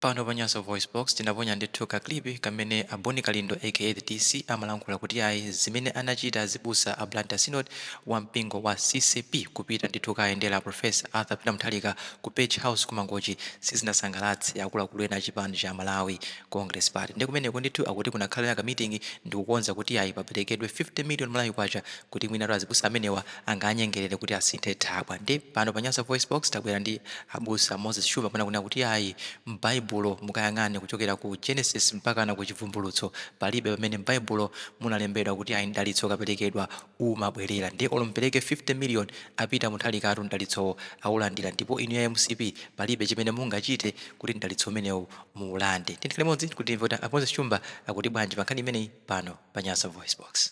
Pano pa Nyasa VoiceBox, tinaponya ndithu ka clip kamene a Boni Kalindo aka The DC amalankhula kuti ayi zimene anachita azibusa a Blantyre Synod wa mpingo wa ccap kupita ndithu kukayendera Prof. Arthur Peter Mutharika ku Page House ku Mangochi sizinasangalatse akuluakulu ena a chipani cha Malawi Congress Party. Nde kumeneko ndithu akuti kunakhala ka meeting ndikukonza kuti ayi paperekedwe 50 million Malawi kwacha kuti mwinatu azibusa amenewa angawanyengelele kuti asinthe thabwa nde pano pa nyasa voice box tabwera ndi abusa moses shumba amene akunena kuti ayi m'baibulo mukayang'ane kuchokera ku genesis mpakana ku chivumbulutso palibe pamene m'baibulo munalembedwa kuti ayi mdalitso ukapelekedwa umabwelera nde olo mupeleke 50 million a peter mutharikatu mdalitsowo aulandira ndipo inu a mcp palibe chimene mungachite kuti mdalitso umenewu muulande tiyeni tikhale limodzi kuti timve kuti a moses shumba akuti bwanji pankhani imeneyi pano pa nyasa voice box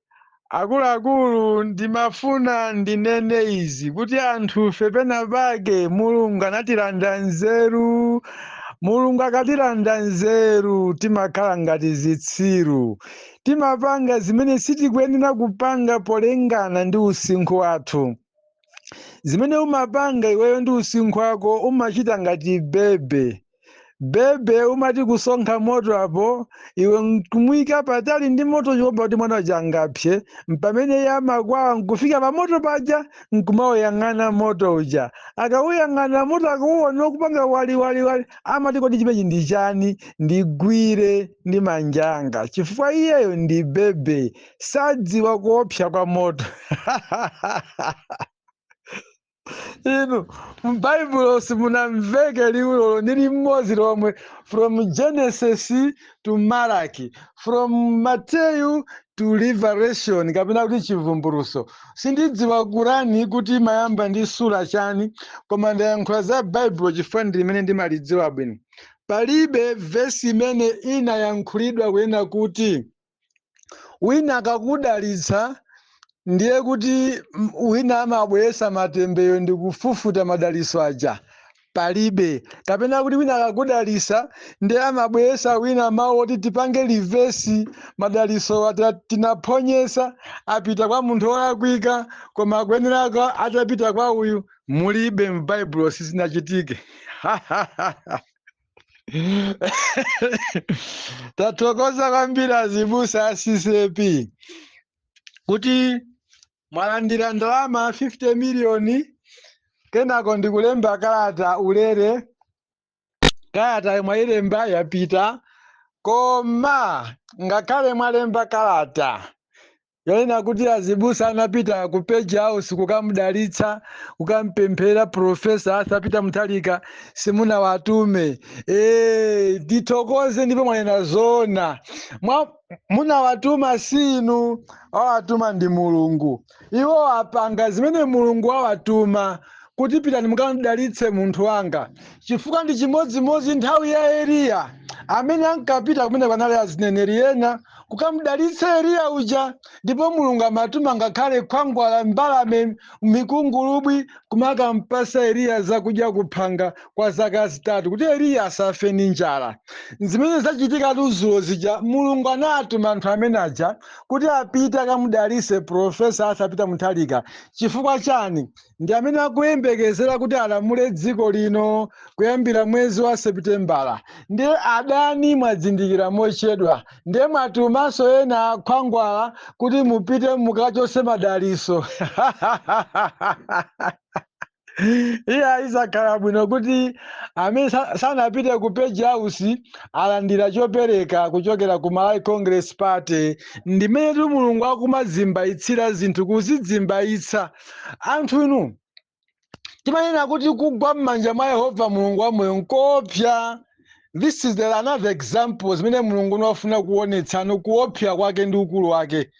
Akuluakulu, ndimafuna ndinene izi kuti anthufe penapake Mulungu anatilanda nzeru. Mulungu akatilanda nzeru timakhala ngati zitsiru. Timapanga zimene sitikuyenera kupanga polingana ndi usinkhu wathu. Zimene umapanga iweyo ndi usinkhu wako umachita ngati bebe. bebe umati kusonkha moto apo iwe nkumuyika patali ndi moto kuopa kuti mwana uja angapse mpamene iye amakwawa nkufika pa moto paja nkumauyang'ana moto uja akawuyang'ana moto akauwona ukupanga waliwaliwali amati kodi chimenechi ndi chani ndigwire ndi manja anga chifukwa iyeyo ndi bebe sadziwa kuopsa kwa moto inu m'baibulo simunamveke liwu olo ndi limodzi lomwe from genesis to malaki from mateyu to revelation kapena kuti chivumbuluso sindidziwa kurani kuti imayamba ndi sura chani koma ndayankhula za baibulo chifukwa ndi limene ndimalidziwa bwino palibe vesi imene inayankhulidwa kunena kuti wina akakudalitsa ndiye kuti m- wina amabweresa matemberero ndi kufufuta madalitso aja palibe kapena kuti wina akakudalitsa ndiye amabweresa wina mawu oti tipange reverse madalitso ata- tinaphonyesa apita kwa munthu wolakwika koma akuyenera kwa- atapita kwa uyu mulibe m'baibulo sizinachitike tathokoza kwambiri azibusa a ccap kuti mwalandira ndalama 50 miliyoni kenako ndikulemba kalata ulere kalata mwayilemba yapita koma ngakhale mwalemba kalata Yonena kuti azibusa anapita ku Page House kukamudalitsa, kukampemphera Professor Arthur Peter Mutharika simunawatume. Eh, tithokoze ndipo mwanena zoona. Amene munawatuma si inu, awatuma ndi Mulungu. Iwo apanga zimene Mulungu awatuma kuti pitani mukamudalitse munthu wanga. Chifukwa ndi chimodzimodzi nthawi ya Eliya amene ankapita kumene kwanali azineneri ena kukamudalitsa Eliya uja ndipo Mulungu amatuma ngakhale khwangwala mbalame mikungulubwi kumakampasa Eliya zakudya kuphanga kwa zaka zitatu kuti Eliya asafe ndi njala zimene zachitika tuzulo zija Mulungu anatuma anthu amene aja kuti apite akamudalitse profesa Arthur Peter Mutharika chifukwa chani ndi amene akuyembekezera kuti alamule dziko lino kuyambira mwezi wa sepitembala ndiye adani mwadzindikira mochedwa ndiye mwatumanso ena akhwangwala kuti mupite mukachose madaliso iya zakhala bwino kuti amene sa- sanapite ku page house alandira chopereka kuchokera ku malawi congress party ndimenetu mulungu akumazimbayitsira zinthu kuzidzimbayitsa anthu inu timanena kuti kugwa m'manja mwa yehova mulungu wamoyo nkoopsa this is the another example zimene mulungu amafuna kuonetsano kuopsa kwake ndi ukulu wake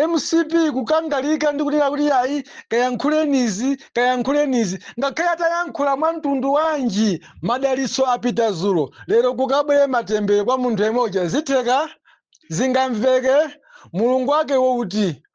mcp kukangalika ndi kunena kuti ayi kayankhulenizi kayankhulenizi ngakhale atayankhula mwa mtundu wanji madalitso apita zulo lero kukabwere matembere kwa munthu yemweuja zitheka zingamveke mulungu wake wouti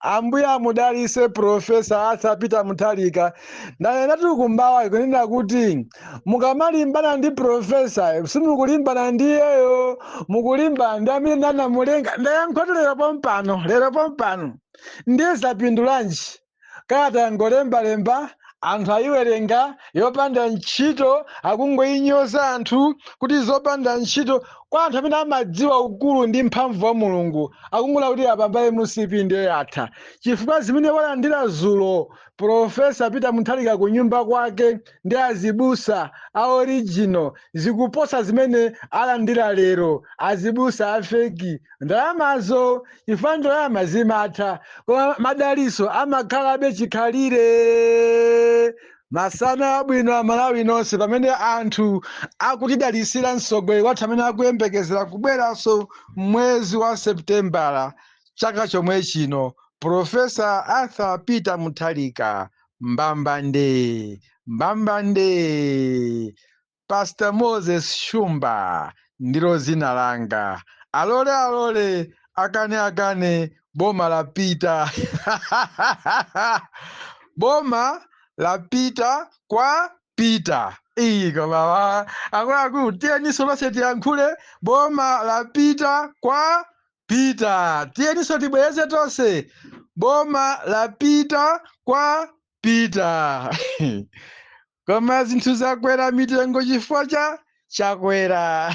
ambuye amudalise profesa Arthur Peter Mutharika ndanenatu kumbawa kunena kuti mukamalimbana ndi profesa simukulimbana ndi iyeyo mukulimbana ndi amene anamulenga ndayankhatu lero pompano lero pompano ndiye zapindulanji kalata yangolembalemba anthu ayiwerenga yopanda ntchito akungoyinyoza anthu kuti zopanda ntchito kwa anthu amene amadziwa ukulu ndi mphamvu wa mulungu akungoona kuti apapa mcp ndiye yatha chifukwa zimene walandira zulo profesa peter Mutharika ku nyumba kwake ndi azibusa a original zikuposa zimene alandira lero azibusa a feki ndalamazo chifukwa ndalama zimatha koma madaliso amakhalabe chikhalire Masana abwino Amalawi nonse pamene anthu akutidalitsira mtsogoleri wathu amene akuyembekezera kubweranso mwezi wa Seputembala chaka chomwe chino, Professor Arthur Peter Mutharika. Mbambande! Mbambande! Pastor Moses Shumba ndilo zina langa. Alole alole akane akane boma lapita. boma lapita kwa Peter. Iyi koma akuluakulu tiyeninso tonse tiyankhule boma lapita kwa Peter. Tiyeninso tibwereze tonse boma lapita kwa Peter. koma zinthu zakwera mitengo chifukwa cha Chakwera